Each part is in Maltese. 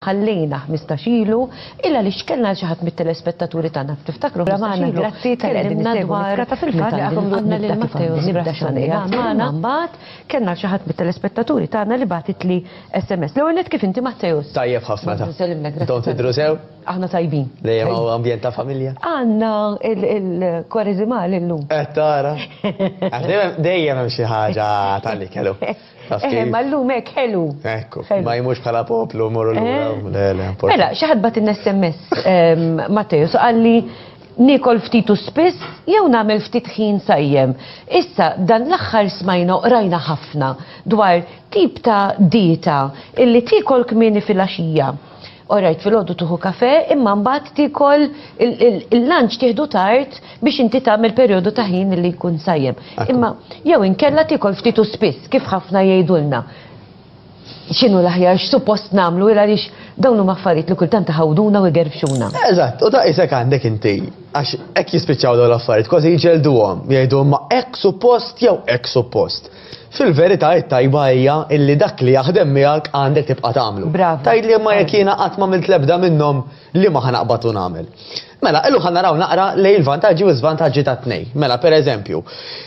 ħallejna 15 ilu illa li xkellna xi ħadd mit-telespettaturi tagħna tiftakru magħna grazzi tkellimna dwar fil-fatt li għakom għandna lil Matteo nibda xanija magħna mbagħad kellna xi ħadd mit-telespettaturi tagħna li bagħtit li SMS. L-ewwel kif inti Matteus? Tajjeb ħafna. Don't idru sew. Aħna tajbin. Dejjem hawn ambjent ta' familja. Għandna il-kwareżimal illum. Qed eh, tara. Dejjem hemm xi ħaġa tal-li kellu. Eh, ma llum hekk ħelu. Ekku, ma jmux bħala poplu morru l eh. Mela, xi ħadd bat in-SMS ehm, Matteus qalli nikol ftit u spiss jew nagħmel ftit ħin sajjem. Issa dan l-aħħar smajna qrajna ħafna dwar tip ta' dieta illi tikol kmieni fil-għaxija Orajt fil-ħodu tuħu kafe, imma mbagħad tikol il-lunch tieħdu tard biex inti tagħmel perjodu ta' ħin li jkun sajjem. Imma jew inkella tikol ftit u spiss kif ħafna jgħidulna. X'inhu l-aħjar x'suppost nagħmlu il għaliex dawn huma affarijiet li kultant taħawduna u jgerfxuna. Eżatt, u ta' isek għandek inti għax hekk jispiċċaw dawn l-affarijiet kważi jġelduhom jgħidu ma hekk suppost jew hekk suppost. Fil-verità it-tajba hija illi dak li jaħdem miegħek għandek tibqa' tagħmlu. Bravo. Tgħidli imma jekk jiena qatt m'għamilt l-ebda minnhom liema ħa naqbad u nagħmel? Mela, illum ħa naraw naqra lejn il-vantaġġi u l-żvantaġġi tat-tnejn. Mela, pereżempju,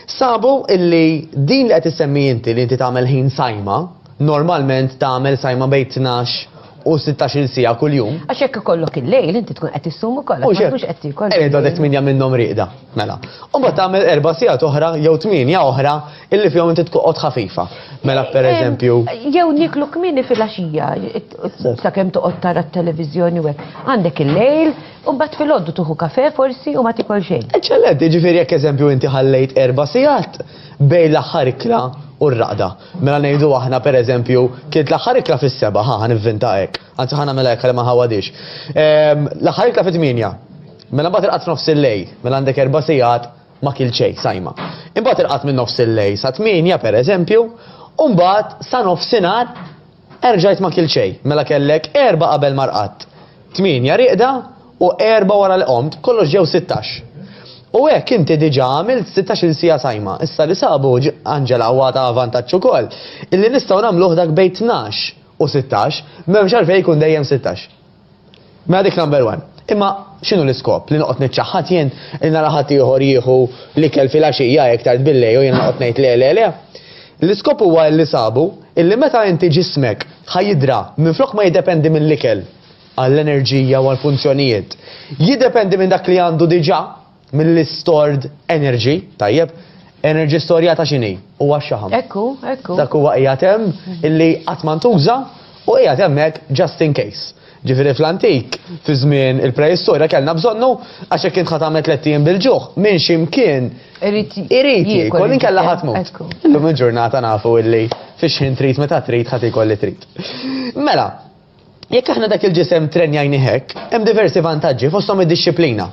sabu illi din li qed issemmi inti li inti tagħmel ħin sajma, normalment tagħmel sajma bejn tnax u sittax-il siegħa kuljum. Għax jekk ikollok il-lejl inti tkun qed issum ukoll għax ma tkunx qed tiekol. Qiegħed għadek tmienja minnhom rieqda, mela. U mbagħad tagħmel erba' sigħat oħra jew tmienja oħra illi fihom inti tqgħod ħafifa. Mela pereżempju. Jew nieklu kmieni filgħaxija sakemm toqgħod tara t-televiżjoni u hekk. Għandek il-lejl u mbagħad filgħodu tieħu kafè forsi u ma tiekol xejn. Eċċellenti, jiġifieri jekk eżempju inti ħallejt erba' sigħat bejn l-aħħar ikla u r-raqda. Mela ngħidu aħna pereżempju, kienet l-aħħar ikla fis-seba', ħa nivvinta hekk, anzi ħa nagħmilha hekk għalli ma nħawwadhiex. Ehm, l-aħħar ikla fit-tmienja. Mela mbagħad il-qatt nofs il-lejl, mela għandek erba' sigħat ma kil xejn sajma. Imbagħad il-qatt minn nofs il-lejl sa tmienja pereżempju, u mbagħad sa nofsinhar Erġajt ma kilt xejn, mela kellek erbgħa qabel ma rqadt, tmienja rieqda u erbgħa wara li qomt, kollox ġew sittax. U hekk inti diġà għamilt sittax-il siegħa sajma. Issa li sabu, Angela, u għadha vantaġġ ukoll, illi nistgħu nagħmluh dak bejn tnax u sittax, m'hemmx għalfejn ikun dejjem sittax. Mela dik number one. Imma x'inhu l-iskop li noqgħod niċċaħħad jien li nara ħadd ieħor jieħu l-ikel filgħaxija hekk tard billejl u jien noqgħod ngħid le le le. L-iskop huwa li sabu illi meta inti ġismek ħa jidra minflok ma jiddependi mill-ikel għall-enerġija u għall-funzjonijiet, jiddependi minn dak li għandu diġà. Mill-istored energy, tajjeb, energy storjata x'inhi? Huwa x-xaħam. Ekku, ekku. Dak huwa qiegħed hemm illi qatt ma ntuża u qiegħed hemmhekk just in case. Ġifieri fl-antik, fi żmien il-preistorja kellna bżonnu għax jekk int ħa tagħmel tliet ijiem bil-ġuħ, minn xi mkien Irid irid jiekol inkella ħadd mut. Ekku. Illum il-ġurnata nafu illi fix-xħin trid meta trid ħadd iekol li trid. Mela, Jekk aħna dak il-ġisem trenjajnih hekk, hemm diversi vantaġġi, fosthom id-dixxiplina.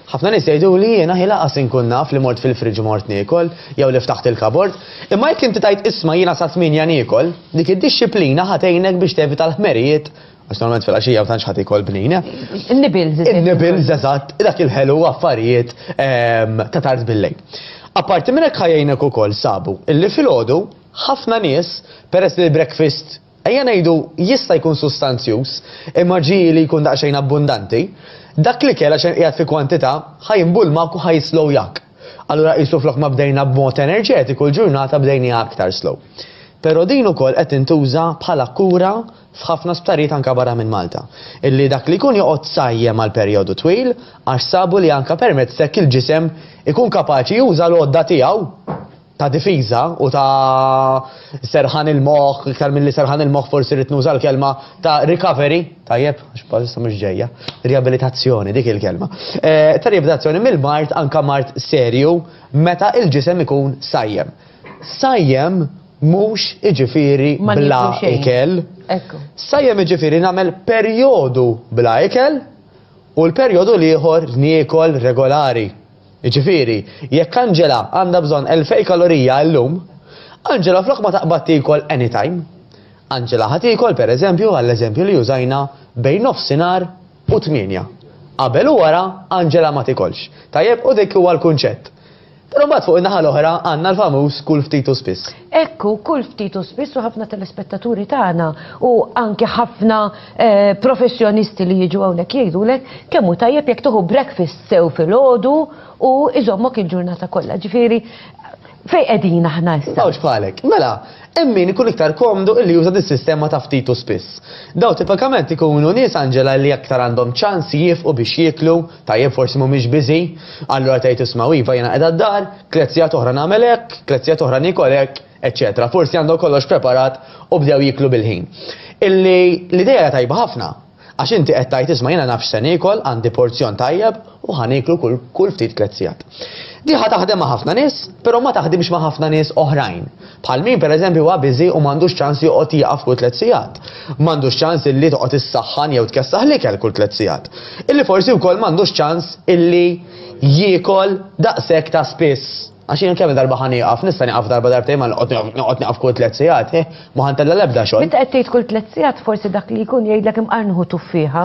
Ħafna nies jgħiduli jiena hi laqas inkun naf li mort fil-fridge u mort niekol, jew li ftaħt il-kabord. Imma jekk inti tgħid isma' jiena sa tmienja niekol, dik id-dixxiplina ħa tgħinek biex tevita l-ħmerijiet, għax normalment fil-għaxija ma tantx ħadd ikol bnin. In-nibbles, eżatt. In-nibbles, eżatt, dak il-ħelu u affarijiet ta' tard bil-lejl. Apparti minn hekk ħa jgħinek ukoll, sabu, illi filgħodu ħafna nies, peress li l-breakfast, Ejja ngħidu, jista' jkun sustanzjuż, imma ġie li jkun daqsxejn abbundanti. Dak l-ikel, għax qed qiegħed fi kwantità, ħa jinbulmak u ħa jislow jak. Allura qisu flok ma bdejna b'mod enerġetiku l-ġurnata bdejniha aktar slow. Però din ukoll qed tintuża bħala kura f'ħafna sptarijiet anke barra minn Malta, illi dak li jkun joqgħod sajjem għal perjodu twil għax sabu li anke permezz t'hekk il-ġisem ikun kapaċi juża l-għodda tiegħu. ta' difiża u ta' serħan il-moħħ, iktar milli serħan il-moħħ forsi rrid nuża l-kelma ta' recovery, tajjeb, għax bħalissa mhux ġejja, riabilitazzjoni dik il-kelma. Eh, ta' riabilitazzjoni mill-mart anka mart serju meta il-ġisem ikun sajjem. Sajjem mhux iġifieri bla ikel. Sajjem iġifieri nagħmel perjodu bla ikel u l-perjodu l-ieħor niekol regolari. Jiġifieri, jekk Angela għandha bżonn elfej kalorija illum, Angela flok ma taqbad tiekol anytime, Angela ħa tiekol, per eżempju, għall-eżempju li użajna, bejn nofsinhar u tmienja. Qabel u wara, Angela ma tiekolx. Tajjeb? U dik huwa l-kunċett. Però mbagħad fuq in-naħa l-oħra għandna l-famuż kul ftit u spiss. Hekk hu kull ftit u spiss u ħafna telespettaturi tagħna u anke ħafna eh, professjonisti li jiġu hawnhekk jgħidulek kemm hu tajjeb jekk tieħu breakfast sew filgħodu u iżommok il-ġurnata kollha. Ġifieri fejn qegħdin aħna issa. Mawġ bħalek. Mela, hemm min ikun iktar komdu illi juża dis-sistema ta' ftit u spiss. Daw tipikament ikunu nies Anġela li aktar għandhom ċans jifqu biex jieklu Tajjeb forsi mhumiex biżi', allura tgħid isma' iva jiena qiegħda d-dar, tliet sigħat oħra nagħmel hekk, tliet sigħat oħra niekol hekk, eċċetera. Forsi għandhom kollox preparat u bdew jieklu bil-ħin. Illi l-idea hija tajba ħafna, għax inti qed tgħid isma' jiena naf x'se niekol, għandi porzjon tajjeb u ħa nieklu kull ftit tliet sigħat. Di ħa taħdem ma' ħafna nies, però ma taħdimx ma' ħafna nies oħrajn. Bħal min pereżempju huwa biżi u m'għandux ċans joqgħod jieqaf kull tliet sigħat. M'għandux ċans illi toqgħod issaħħan jew tkessaħ l-ikel kull tliet sigħat. Illi forsi wkoll m'għandux ċans illi jiekol daqshekk ta' spiss. Għax jien kemm-il darba ħa nieqaf, nista' nieqaf darba darbtejn ma noqgħod nieqaf kull tliet sigħat, hih, ma ħa ntella' l-ebda xogħol. Meta qed tgħid kull tliet sigħat forsi dak li jkun jgħidlek imqar nieħu tuffieħa.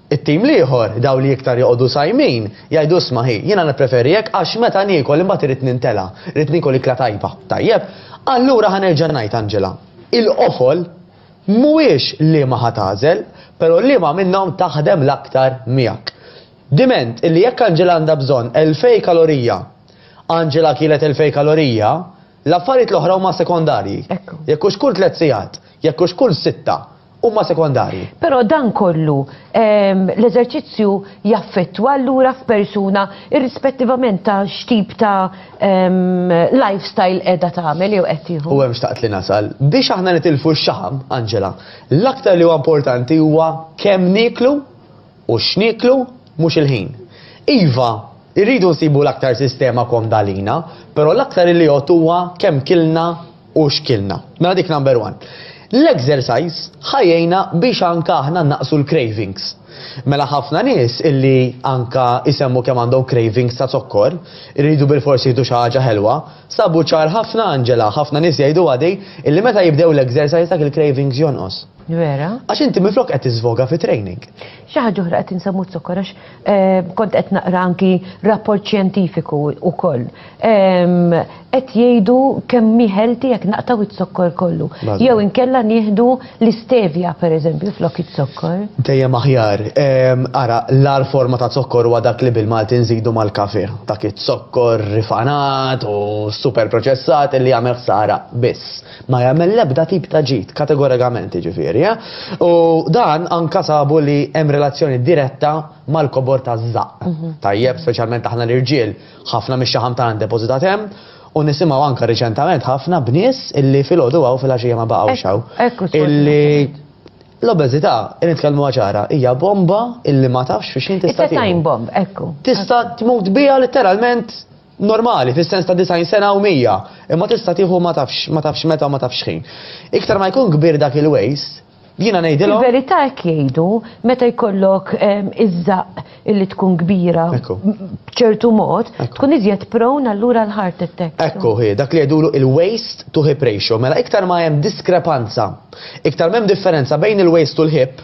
It-tim l-ieħor, dawn li iktar joqogħdu sajmin, jgħidu isma' hi, jiena nippreferi hekk għax meta niekol imbagħad irid nintela', irid niekol ikla tajba. Tajjeb, allura ħa nerġa' ngħid Angela, il-qofol mhuwiex liema ħa tagħżel, però liema minnhom taħdem l-aktar miegħek. Diment illi jekk Angela għandha bżonn elfej kalorija, Angela kielet elfej kalorija, L-affarijiet l-oħra huma sekondarji. Ekku. Jekk hux kull tliet sigħat, jekk hux kull sitta, huma sekondarji. Però dan kollu ehm, l-eżerċizzju jaffettwa allura f'persuna irrispettivament ta' x'tip ta' ehm, lifestyle qiegħda tagħmel jew qed tieħu. U hemm xtaqt li nasal, biex aħna nitilfu x-xaħam, Angela, l-aktar li huwa importanti huwa kemm nieklu U x'nieklu? Mhux il-ħin. Iva, irridu nsibu l-aktar sistema komda għalina, però l-aktar iliot huwa kemm kilna u x'kilna. Mela dik number one. L-exercise ħa jgħinna biex anke aħna nnaqqsu l-cravings. Mela ħafna nies illi anke jsemmu kemm għandhom cravings ta' zokkor, iridu bilfors jieħdu xi ħaġa ħelwa, sabu ċar ħafna Angela, ħafna nies jgħiduha di, illi meta jibdew l-exercise dak il-cravings jonqos. Vera? Għax inti minflok qed tiżvoga fi training. Xi ħaġa oħra qed insemmu zokkor għax eh, kont qed naqra anki rapport xjentifiku wkoll. Ehm, qed jgħidu kemm miħelti jekk naqtaw iz-zokkor kollu. Jew inkella nieħdu l-istevja pereżempju flok iz-zokkor. Dejjem aħjar. Ehm, ara, l-ar forma ta' zokkor huwa dak li bil-Malti nżidu mal-kafe. Dak iz-zokkor rifanat u super proċessat li jagħmel ħsara biss. Ma jagħmel l-ebda tip ta' ġid, kategorikament jiġifieri, eh? U dan anke sabu li hemm relazzjoni diretta mal-kobor taż-żaqq. Mhm. Tajjeb, speċjalment aħna l-irġiel, ħafna mix-xaħam tagħna ndepożitat hemm, u nisimgħu anke riċentament ħafna b'nies illi filgħodu hawn fil-għaxija ma baqgħux hawn. Illi l-obeżità, nitkellmu ċara, hija bomba illi ma tafx fiex jien tista' time bomb, ekku. Tista' tmut biha letteralment normali, fis-sens ta' 90 sena u 100, imma tista' tieħu ma tafx ma tafx meta u ma tafx x'ħin. Iktar ma jkun kbir dak il-waste, jiena ngħidilhom. Fil-verità hekk jgħidu, meta jkollok iż-żaqq illi tkun kbira b'ċertu mod, tkun iżjed prone allura għal heart attacks. Ekku hi, dak li jgħidulu il-waste to hip ratio. Mela iktar ma hemm diskrepanza, iktar m'hemm differenza bejn il-waste u l-hip,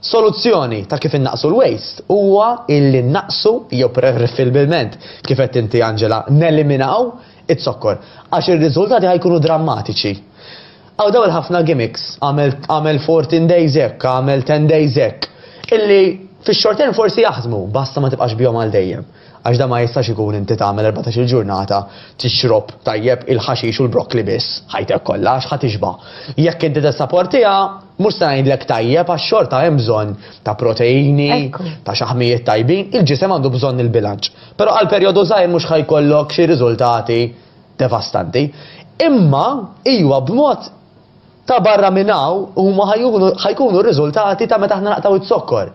Soluzzjoni ta' kif innaqqsu l-waste huwa illi nnaqqsu jew preferibilment, kif għedt inti Angela, neliminaw iz-zokkor, għax ir-riżultati ħa jkunu drammatiċi. Hawn dawn il-ħafna gimmicks, agħmel agħmel fourteen days hekk, agħmel ten days hekk, illi fix-short term forsi jaħdmu, basta ma tibqax bihom għal dejjem. Għax dan ma jistax ikun inti tagħmel erbatax-il ġurnata tixrob tajjeb il-ħaxix u l-brokkli biss ħajtek kollha għax ħa tixba'. Jekk inti tessaportiha, mhux se ngħidlek tajjeb għax xorta hemm bżonn ta' proteini, ta' xaħmijiet tajbin, il-ġisem għandu bżonn il-bilanċ. Però għal perjodu żgħir mhux ħa jkollok xi riżultati devastanti. Imma iwa b'mod Ta' barra minn hawn, huma ħa jkunu r-riżultati ta' meta aħna naqtgħu z-zokkor.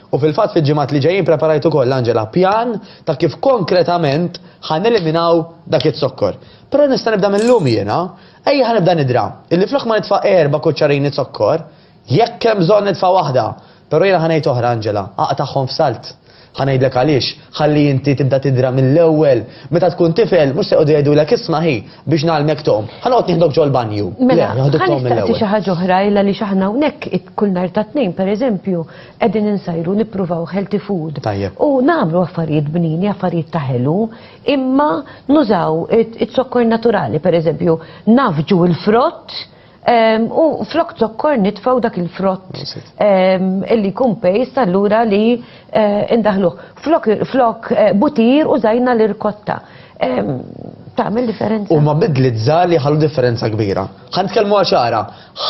U fil-fatt fil-ġimgħat li ġejjin preparajt ukoll, Angela, pjan ta' kif konkretament ħa neliminaw dak iz-zokkor. Però nista' nibda mil-lum jiena. Ejja ħa nibda nidra, illi flok ma nitfa' erba' kuċċarini zokkor, jekk hemm bżonn nitfa' waħda, però jiena ħa ngħid oħra, Angela, aqtagħhom f'salt. Ħa ngħidlek għaliex, ħalli inti tibda tidra mill-ewwel. Meta tkun tifel, mhux se jqogħdu jgħidulek isma' hi, biex ngħallmek tgħum, ħa noqgħod nieħdok ġol-banju. Mela, ħa nistaqsi xi ħaġa oħra illa li x'aħna hawnhekk kull nhar ta' Tnejn pereżempju qegħdin insajru nippruvaw healthy food. Tajjeb. U nagħmlu affarijiet bnini, affarijiet ta' ħelu, imma nużaw iz-zokkor naturali pereżempju, nafġu l-frott, U flok zokkor nitfaw dak il-frott illi kun pejst allura li eh, indaħluh. Flok eh, butir u zajna l-irkotta. Tagħmel differenza. U ma bidli żali ħallu differenza kbira. Ħan tkellmu għaxara,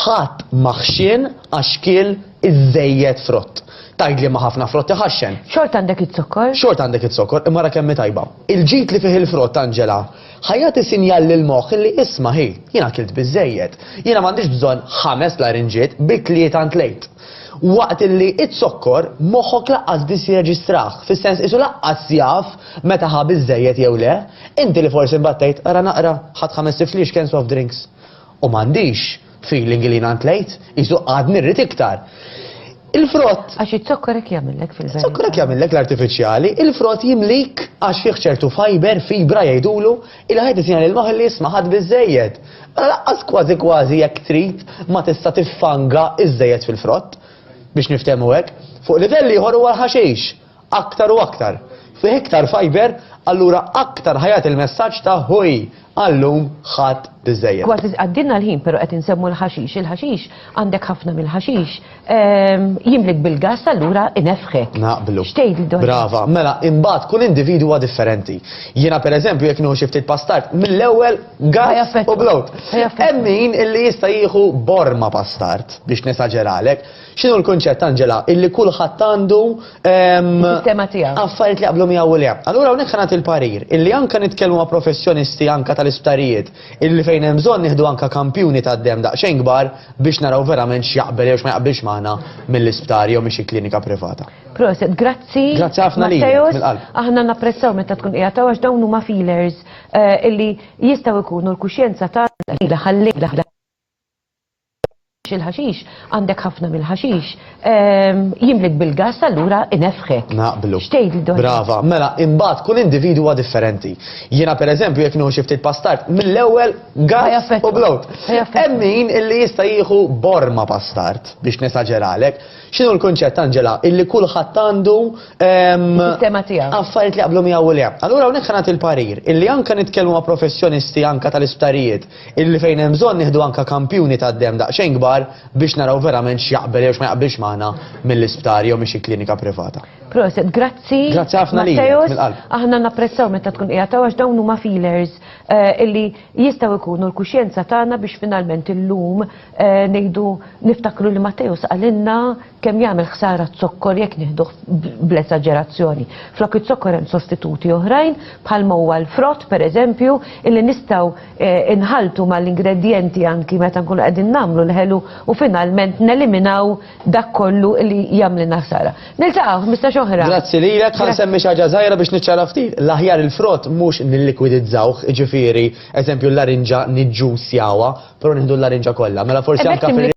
ħadd maħxin għax kiel iżejjed frott. Tajd li ma ħafna frott iħaxxen. Xort għandek it-zokkor? Xort għandek it-zokkor, imma ra kemm tajba. Il-ġit li fih il-frott, Angela, Ħa jagħti sinjal lill-moħħ li isma' hi, jien akilt biżżejjed. Jiena m'għandix bżonn ħames larinġiet, bi tlieta ntlejt. Waqt li iz-zokkor, moħħok laqqas biss jirreġistrah, fis-sens qisu laqqas jaf meta ħa biżżejjed jew le. Inti li forsi mbattejt, ara naqra, ħadt ħames tifliex cans of drinks. U m'għandix feeling li jiena ntlejt, qisu għadni rrid iktar. Il-frott. Għax iż-zokkor hekk jagħmillek fil-verità. Iż-zokkor hekk jagħmillek l-artifiċjali, il-frott jimlik għax fih ċertu fiber, fibra jgħidulu, ilha ħed itina lil moħħ li isma' ħadt biżżejjed. Mela laqqas kważi kważi jekk trid ma tista' tiffanga iżżejjed fil-frott biex niftehmu hekk. Fuq livell ieħor huwa l-ħaxix. aktar u aktar, fih iktar fajber, allura aktar ħa jagħti l-messaġġ ta' ħuj, għal-lum ħadt biżżejjed. Kważi għaddielna l-ħin pero qed insemmu l-ħaxix, il-ħaxix, għandek ħafna mill-ħaxix, jimlik bil-gass allura inefħek. Naqblu. X'tgħidli dwar dan? Brava, mela imbagħad kull individwu huwa differenti. Jiena pereżempju jekk nieħu xi ftit pastard, mill-ewwel gass u Ħajaffettwa. blowt. Ħajaffettwa. Hemm min illi jista' jieħu borma pastard biex nesaġeralek, X'inhu l-kunċett, Angela? Illi kulħadd għandu Is-sistema tiegħu. affarijiet li jaqblu miegħu u le. Allura hawnhekk ħa nagħti l-parir illi anke nitkellmu ma' professjonisti anke tal-isptarijiet illi fejn hemm bżonn nieħdu anke kampjuni tad-demm daqsxejn kbar biex naraw verament x'jaqbel jew x'ma jaqbilx magħna mill-isptar jew minn xi klinika privata. Proset, grazzi. Grazzi ħafna lilek, Matteos. mill-qalb. Aħna napprezzaw meta tkun qiegħed hawn għax dawn huma feelers eh, illi jistgħu jkunu l-kuxjenza tagħna li ħallejna il-ħaxix, għandek ħafna mill-ħaxix, jimlik bil-gass allura inefħek. Naqblu. X'tgħid dwar? Brava, mela imbagħad kull individu huwa differenti. Jiena pereżempju jekk nieħu xi ftit pastart, mill-ewwel gass u blowt. Hemm min illi jista' jieħu borma pastart biex nesaġeralek. X'inhu l-kunċett Anġela illi kulħadd għandu Sistema tiegħu. Affarijiet li jaqblu miegħu u le. Allura hawnhekk ħanat il-parir illi anke nitkellmu ma' professjonisti anke tal-isptarijiet Illi fejn hemm bżonn nieħdu anke kampjuni tad-demm daqsxejn kbar biex naraw verament x'jaqbel jew x'ma jaqbilx magħna mill-isptar jew minn xi klinika privata. Proset, grazzi. Grazzi ħafna lilek, Matteus. mill-qalb. Aħna napprezzaw meta tkun qiegħed hawn għax dawn huma feelers eh, illi jistgħu jkunu l-kuxjenza tagħna biex finalment illum eh, ngħidu niftakru li Matteus qalilna Kemm jagħmel ħsara z-zokkor jekk nieħduh bl-esaġerazzjoni. Flok iz-zokkor hemm sostituti oħrajn, bħalma huwa l-frott pereżempju, illi nistgħu nħalltu mal-ingredjenti anki meta nkunu qegħdin nagħmlu l-ħelu u finalment neliminaw dak kollu li jagħmlilna ħsara. Niltaqgħu ħmistax oħra. Grazzi lilek, ħa nsemmi xi ħaġa żgħira biex niċċara ftit. L-aħjar il-frott mhux nillikwidizzawh, jiġifieri, eżempju l-larinġa niġġussjawha, però nieħdu l-larinġa kollha. Mela forsi anke fir